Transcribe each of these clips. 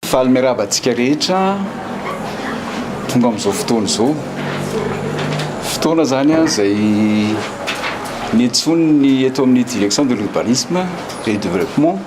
Faly miarahaba antsika rehetra tonga amin'izao fotoana izao. Fotoana izany izay niantsoan'ny eto amin'ny Direction de l'Urbanisme et du Développement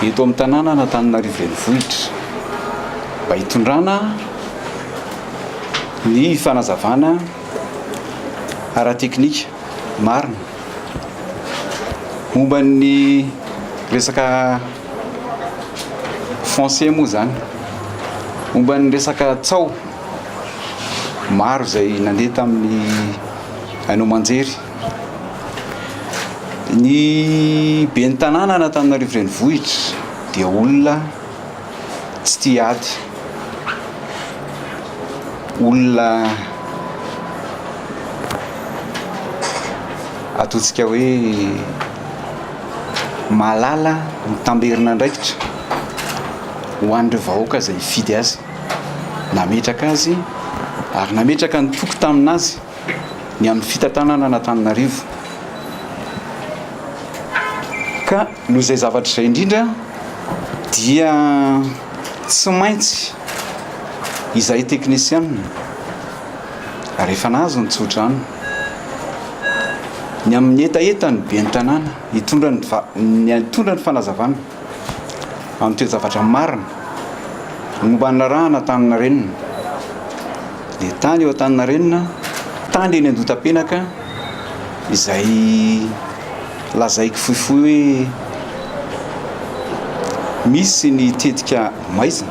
eto amin'ny tanànan'Antananarivo Renivohitra mba hitondrana ny fanazavana ara-teknika marina momba ny resaka foncier moa izany. Momba ny resaka tsaho, maro izay nandeha tamin'ny haino aman-jery. Ny ben'ny tanàna an'Antananarivo renivohitra dia olona tsy tia ady, olona ataontsika hoe. mahalala mitamberina andraikitra ho an'ireo vahoaka izay hifidy azy, nametraka azy ary nametraka ny toky tamin'azy ny amin'ny fitantanana an'Antananarivo ka noho izay zavatra izay indrindra dia tsy maintsy izahay teknisianina ary efa nahazo ny tsodrano. Ny amin'ny hetaheta ny ben'ny tanàna hitondra ny hitondra ny fanazavana amin'ny toe-javatra marina momba ny laharahana Antaninarenina. Dia tany eo Antaninarenina, tany eny Andotapenaka izay Lazaiko fohifohy hoe misy ny tetika maizina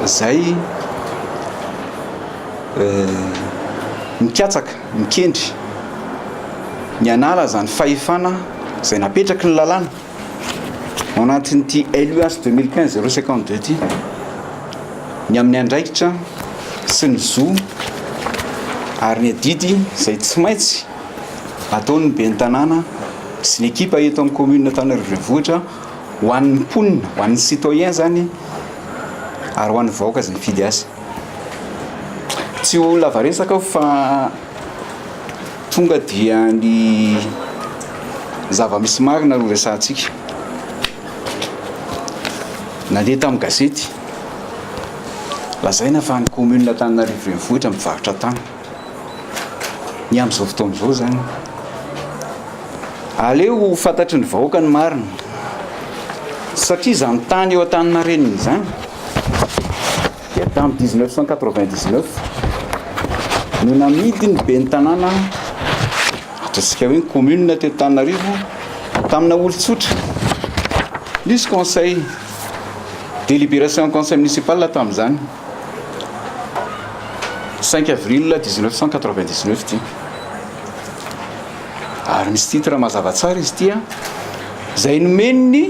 izay mikatsaka, mikendry ny hanala izany fahefana izay napetraky ny lalàna ao anatin'ity LUH deux mille quinze zéro cinquante deux ity ny amin'ny andraikitra sy ny zo ary ny adidy izay tsy maintsy. ataon'ny ben'ny tanàna sy ny ekipa eto amin'ny commune Antananarivo Renivohitra ho an'ny mponina, ho an'ny citoyen izany ary ho an'ny vahoaka izay mifidy azy. Tsy ho lava resaka aho fa tonga dia ny zava-misy marina no resahantsika. Nandeha tamin'ny gazety, lazaina fa ny commune Antananarivo Renivohitra mivarotra tany. Ny amin'izao fotoana izao izany, aleo ho fantatry ny vahoaka ny marina, satria izany tany eo Antaninarenina izany dia tamin'ny dix neuf cent quatre vingt dix neuf no namidin'ny ben'ny tanàna ataontsika hoe ny commune teto Antananarivo tamina olon-tsotra, nisy conseil, délibération conseil municipal tamin'izany. Cinq avril dix-neuf cent quatre-vingt-dix-neuf ity. Ary misy titre mazava tsara izy ity a. Izay nomen'ny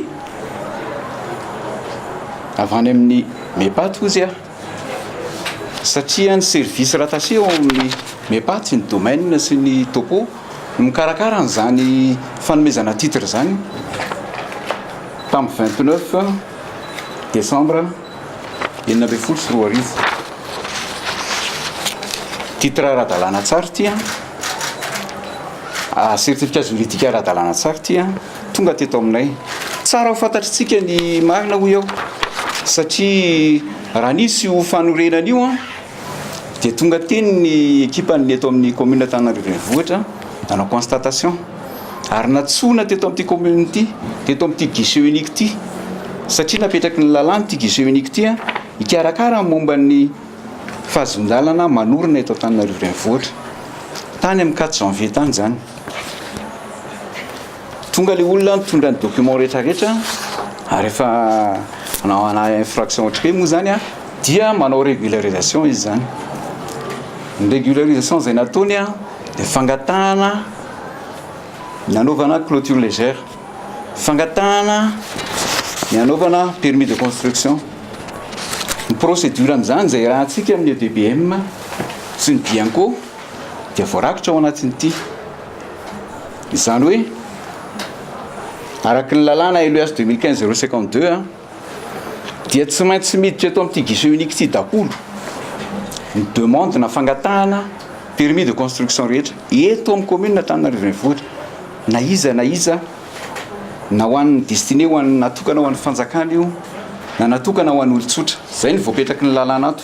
avy any amin'ny MEPAT hozy a. Satria ny service rattaché ao amin'ny MEPAT ny domaine sy ny topo no mikarakara an'izany fanomezana titre izany tamin'ny vingt-neuf décembre enina ambin'ny folo sy roa arivo. Titre ara-dalàna tsara ity an. Ah, certificat juridique ara-dalàna tsara ity an. Tonga teto aminay. Tsara ho fantatritsika ny marina hoy aho. Satria raha nisy ho fanorenana io an, dia tonga teny ny ekipan'ny eto amin'ny commune Antananarivo Renivohitra nanao constatation. ary nantsoina teto amin'ity commune ity, teto amin'ity guichet unique ity, satria napetraky ny lalàna ity guichet unique ity an, hikarakara ny momba ny fahazon-dalana manorina eto Antananarivo Renivohitra. Tany amin'ny quatre janvier tany izany. Tonga ilay olona nitondra ny document rehetrarehetra ary efa nanao ana infraction ohatry hoe moa izany an, dia manao régularisation izy izany. Ny régularisation izay nataony an, dia fangatahana. ny hanaovana clôture légère, fangatahana ny hanaovana permis de construction, ny procédure amin'izany izay rahantsika amin'ny EDBM sy ny Bianco dia voarakitra ao anatin'ity. Izany hoe, araka ny lalàna LEH 2015 052 a, dia tsy maintsy miditra eto amin'ity guichet unique ity daholo ny demande na fangatahana permis de construction rehetra eto amin'ny commune Antananarivo Renivohitra na iza na iza na ho an'ny destiné ho an'ny natokana ho an'ny fanjakana io na natokana ho an'ny olon-tsotra izay ny voapetraky ny lalàna ato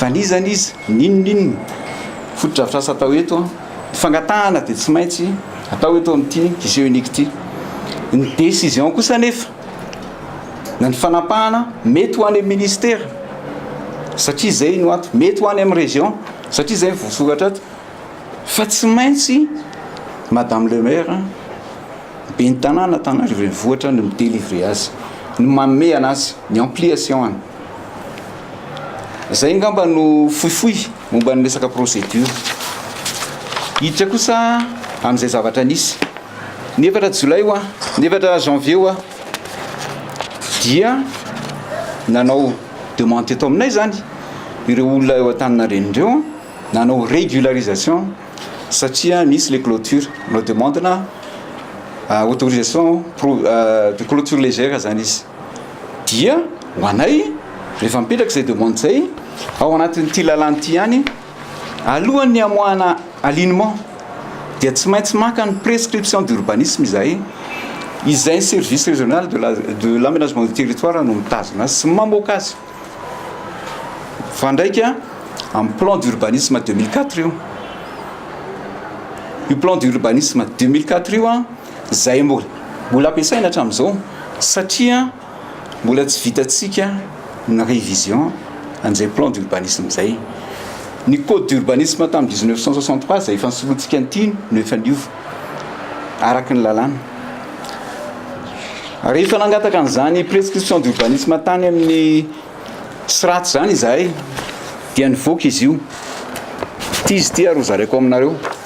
Vanizana izy, n'inon'inona. Fotodrafitrasa atao eto an, ny fangatahana dia tsy maintsy atao eto amin'ity guichet unique ity. Ny décision kosa anefa, na ny fanapahana, mety ho any amin'ny ministera, satria izay no ato, mety ho any amin'ny région, satria izay no voasoratra ato, fa tsy maintsy madame le maire an, ben'ny tanàna Antananarivo Renivohitra no mi-délivrer azy, no manome an'azy, ny ampliation any. Izay angamba no fohifohy momba ny resaka procédure. Hiditra kosa amin'izay zavatra nisy. Ny efatra jolay hoa, ny efatra janvier hoa dia nanao demande teto aminay izany ireo olona eo Antaninarenina ireo nanao régularisation satria misy ilay clôture. Nanao demande-na autorisation de clôture légère izany izy. Dia ho anay, rehefa mipetraka izay demande izay, ao anatin'ity lalàna ity ihany, alohan'ny hamoahana alignement, dia tsy maintsy maka ny prescription d'urbanisme izahay, izay ny service régional de la de l'aménagement du territoire no mitazona azy sy ny mamoaka azy. Mifandraika amin'ny plan d'urbanisme deux mille quatre io. Io plan d'urbanisme deux mille quatre io an! izay mbola ampiasaina hatramin'izao satria mbola tsy vitantsika ny révision an'izay plan d'urbanisme izay. Ny code d'urbanisme tamin'ny dix neuf cent soixante trois izay efa nisoloantsika an'ity no efa niova araka ny lalàna. Rehefa nangataka an'izany prescription d'urbanisme tany amin'ny SRAT izany izahay dia nivoaka izy io. Ity izy ity ary hozaraiko aminareo.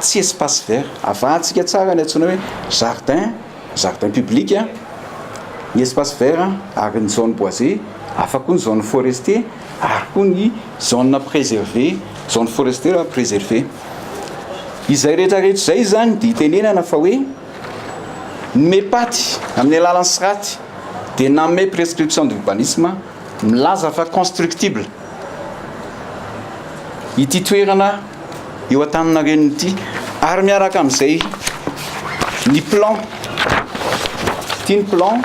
tsy espace vert. Avahantsika tsara ny antsoina hoe jardin, jardin public, ny espace vert ary ny zone boisée, hafa koa ny zone forestier ary koa ny zone preservée, zone forestière preservée. Izay rehetra rehetra izay izany dia itenenana fa hoe ny MEPAT amin'ny alalan'ny SRAT dia nanome prescription d'urbanisme. Milaza fa constructible ity toerana eo Antaninarenina ity ary miaraka amin'izay ny plan ity ny plan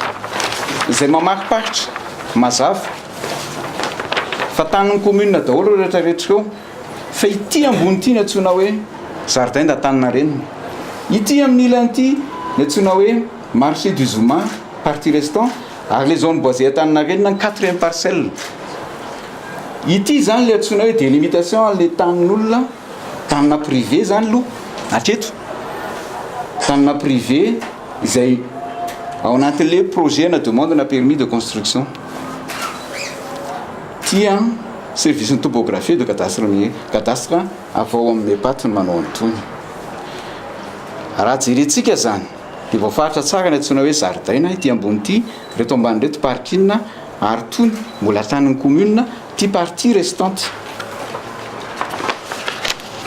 izay mamariparitra mazava fa tanin'ny commune daholo ireo rehetra rehetra ireo fa ity ambony ity ny antsoina hoe jardin d'Antaninarenina ity amin'ny ilany ity ny antsoina hoe marché du zoma partie restant Ary le zone boisée Antaninarenina ny quatrième parcelle. Ity zany le antsoina hoe délimitation anle tanin'olona, tanina privé zany lo hatreto. Tanina privé izay ao anatinle projet na demande na permis de construction. Ty an service ny topographie de cadastre ny cadastre avy ao amin'ny Epat no manao an'itony. Raha jerentsika zany. Dia voafaritra tsara ilay antsoina hoe zaridaina ity ambony ity, ireto ambany ireto parking ary tony mbola tanin'ny commune ity partie restante.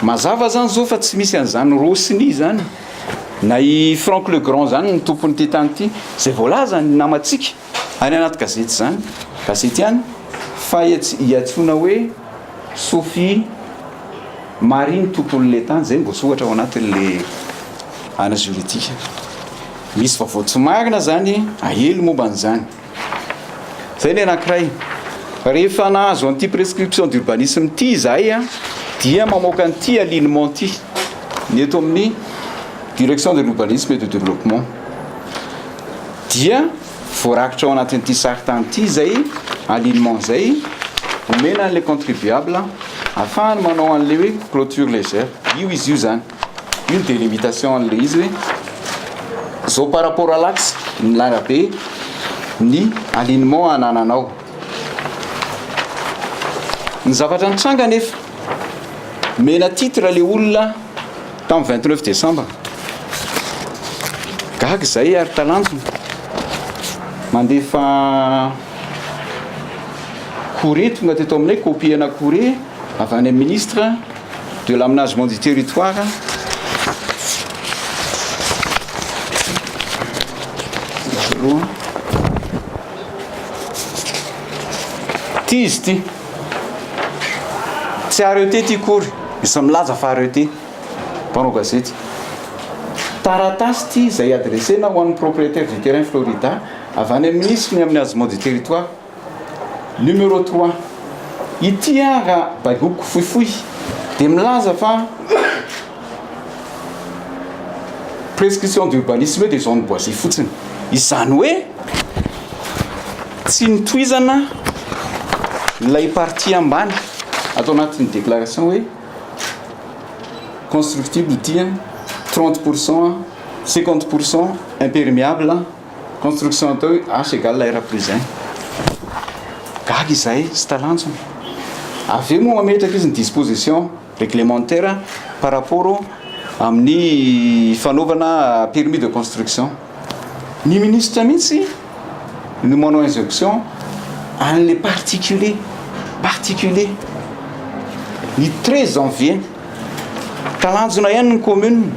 Mazava izany izao fa tsy misy an'izany Rossini izany na i Franck Legrand izany ny tompon'ity tany ity, izay voalazan'ny namantsika. Any anaty gazety izany, gazety ihany, fa iantsoana hoe Sophie Marie ny tompon'ilay tany, izay no voasoratra ao anatin'ilay ana juridique. Misy vaovao tsy marina izany ahelo momba an'izany. Izay ny anankiray. Rehefa nahazo an'ity prescription d'urbanisme ity izahay dia mamoaka an'ity alignement ity ny eto amin'ny direction de l'urbanisme et du développement. Dia voarakitra ao anatin'ity sarintany ity izay alignement izay omena an'ilay contribuable ahafahany manao an'ilay hoe clôture légère. Io izy io izany. Io ny délimitation an'ilay izy hoe izao par rapport à l'axe ny larabe ny alignement anananao. Ny zavatra nitranga anefa, omena titre ilay olona, Tamin'ny vingt neuf décembre. Gaga izahay ary talanjona. Mandefa courrier tonga teto aminay, copie ana courrier avy any amin'ny ministre de l'aménagement du territoire roa. Ity izy ity. Tsy RET ity akory, misy milaza fa RET, mpanao gazety. Taratasy ity izay adressena ho an'ny propriétaire du terrain Florida avy any amin'ny minisitry ny amin'ny Aziman du Territoire, numéro trois. Ity ara-baiko fohifohy dia milaza fa. Prescription d'urbanisme dia zone boisée fotsiny. Izany hoe tsy nitohizana ilay partie ambany ato anatin'ny déclaration hoe constructible ity an, 30 pour cent an, 50 pour cent imperméable an, construction atao hoe H égale R plus 1. Gaga izahay sy talanjona. Avy eo moa mametraka izy ny disposition. réglementaire par rapport amin'ny fanaovana permis de construction. Ny ministra mihitsy no manao injonction an'ilay particulier, particulier. Ny 13 janvier, talanjona ihany ny commune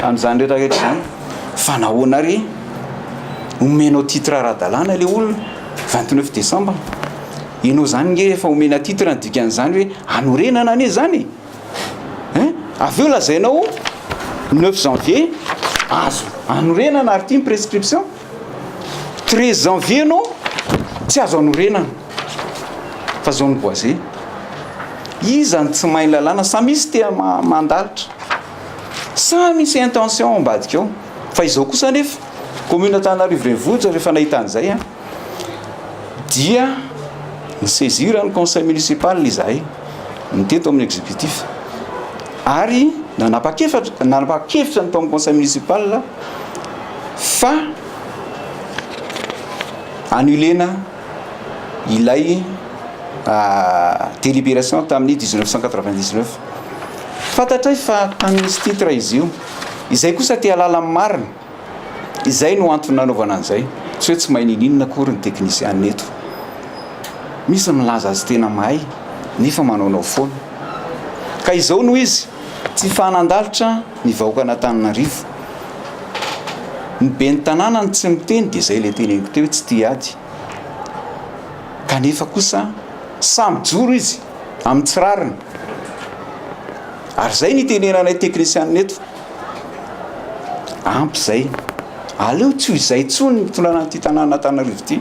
amin'izany rehetra rehetra izany fa nahoana àry omenao titre ara-dalàna ilay olona 29 décembre. Ianao zany nge efa omena titre ny dikan'izany hoe hanorenana anie zany e! Hein? Avy eo lazainao neuf janvier azo hanorenana ary ity ny prescription. Treize janvier ianao tsy azo hanorenana fa zao ny boise. Iza no tsy mahay ny lalàna? Sa misy te mandalitra? Sa misy intention ao ambadika ao? Fa izao kosa anefa commune Antananarivo Renivohitra rehefa nahita an'izay an! dia ni-saisir ny conseil municipal izahay, ny teto amin'ny executif, ary nanapa-kevitra nanapa-kevitra ny tao amin'ny conseil municipal fa annuler-na ilay délibération tamin'ny dix neuf cent quatre vingt dix neuf. Fantatray fa tamin'izy titre izy io, izay kosa te-hahalala ny marina. Izay no antony nanaovana an'izay. Tsy hoe tsy mahay niniana akory ny teknisianina eto. Misy ny milaza azy tena mahay nefa manaonao foana. Ka izao no izy, tsy fahanan-dalitra ny vahoakan'Antananarivo. Ny ben'ny tanàna no tsy miteny dia izay ilay teneniko teo hoe tsy tia ady. Kanefa kosa sahy mijoro izy amin'ny tsy rariny. Ary izay no itenenanay teknisianina eto. Ampy izay. Aleo tsy ho izay intsony ny fitondrana an'ity tanàna Antananarivo ity.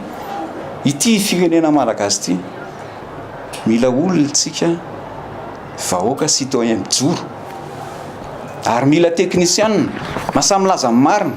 Ity firenena malagasy ity. Mila olona isika vahoaka citoyen mijoro. Ary mila teknisianina. Lasa milaza ny marina.